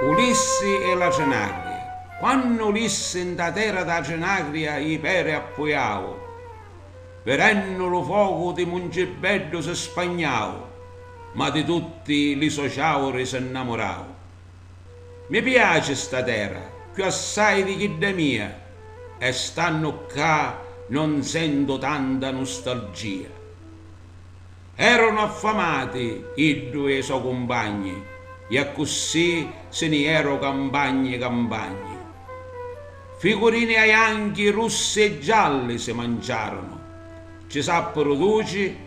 Ulissi e la Cenagria Quannu Ulissi nta terra dâ Cenagria i peri appujau, vidennu lu focu di Mungibeddu si spagnau, ma di tutti li so ciauri si nnamurau. Mi piaci sta terra cchiù assai di chidda mia e stannu ccà non sentu tanta nustalgia. Erunu affamati iddu e i so cumpagni e accussì si ni eru campagni campagni. Ficurini aianchi, russi e gialli si manciarunu, ci sappiru duci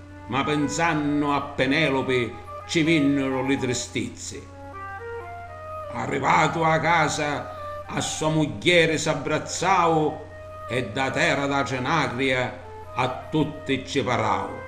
Ma pinsannu a Penelopi ci vinniru li tristizzi. Arrivatu a casa a so mugghieri s'abbrazzau e da terra da Trinacria a tutti ci parau.